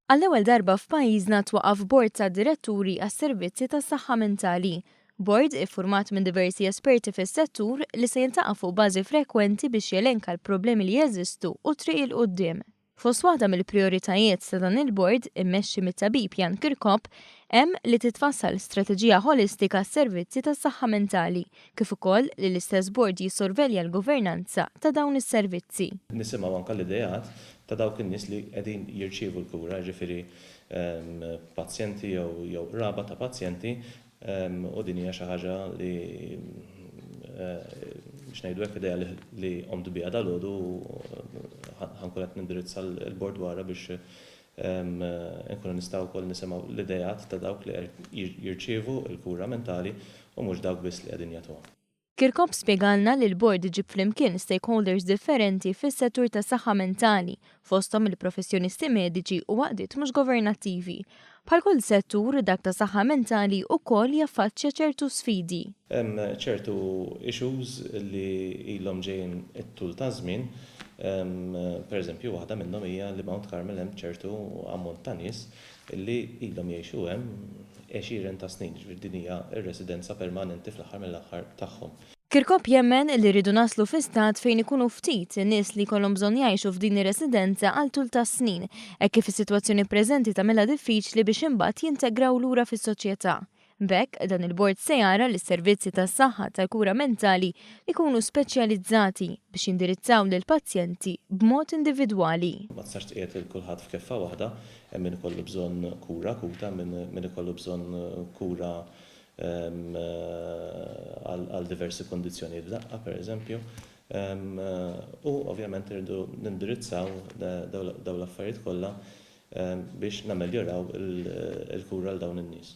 Għall-ewwel darba f'pajjiżna twaqaf bord ta' diretturi għas-servizzi tas-saħħa mentali. Bord iffurmat minn diversi esperti fis-settur li se jiltaqa' fuq bażi frekwenti biex jelenka l-problemi li jeżistu u t-triq 'il quddiem. Fost waħda mill-prijoritajiet ta' dan il-Bord, immexxi mit-Tabib Jan Kirkop, hemm li titfassal strateġija ħolistika għas-servizzi tas-saħħa mentali, kif ukoll li l-istess Bord jissorvelja l-governanza ta' dawn is-servizzi. Nisimgħu anke l-ideat ta' dawk in-nies li qegħdin jirċievu l-kura, jiġifieri pazjenti jew qraba ta' pazjenti, U din hija xi ħaġa li, biex ngħidu hekk, idea li qomt biha dalgħodu u ħa nkun qed nindirizza l-Bord dwarha biex inkunu nistgħu wkoll nisimgħu l-ideat ta' dawk li jirċievu l-kura mentali u mhux dawk biss li qegħdin jagħtuha. Kirkop spjegalna li l-Bord iġib flimkien stakeholders differenti fis-settur tas-saħħa mentali, fosthom il-professjonisti mediċi u għaqdiet mhux governattivi. Bħal kull settur, dak tas-saħħa mentali wkoll jaffaċċja ċertu sfidi. Hemm ċertu issues li ilhom ġejjin it-tul taż-żmien. Pereżempju, waħda minnhom hija li Mount Carmel hemm ċertu ammont ta' nies li ilhom jgħixu hemm għexieren ta' snin, jiġifieri din hija r-residenza permanenti fl-aħħar mill-aħħar tagħhom. Kirkop jemmen li rridu naslu fi stat fejn ikunu ftit in-nies li jkollhom bżonn jgħixu f'din ir-residenza għal tul ta' snin hekk kif is-sitwazzjoni preżenti tagħmilha diffiċli biex imbagħad jintegraw lura fis-soċjetà. B'hekk, dan il-bord se jara li s-servizzi tas-saħħa tal-kura mentali jkunu speċjalizzati biex jindirizzaw lill-pazjenti b'mod individwali. Ma tistax tqiegħed lil kulħadd f'keffa waħda, hemm min ikollu bżonn kura akuta, hemm min ikollu bżonn kura għal diversi kundizzjonijiet f'daqqa, pereżempju, u ovvjament irridu nindirizzaw dawn l-affarijiet kollha biex nammeljoraw il-kura għal dawn in-nies.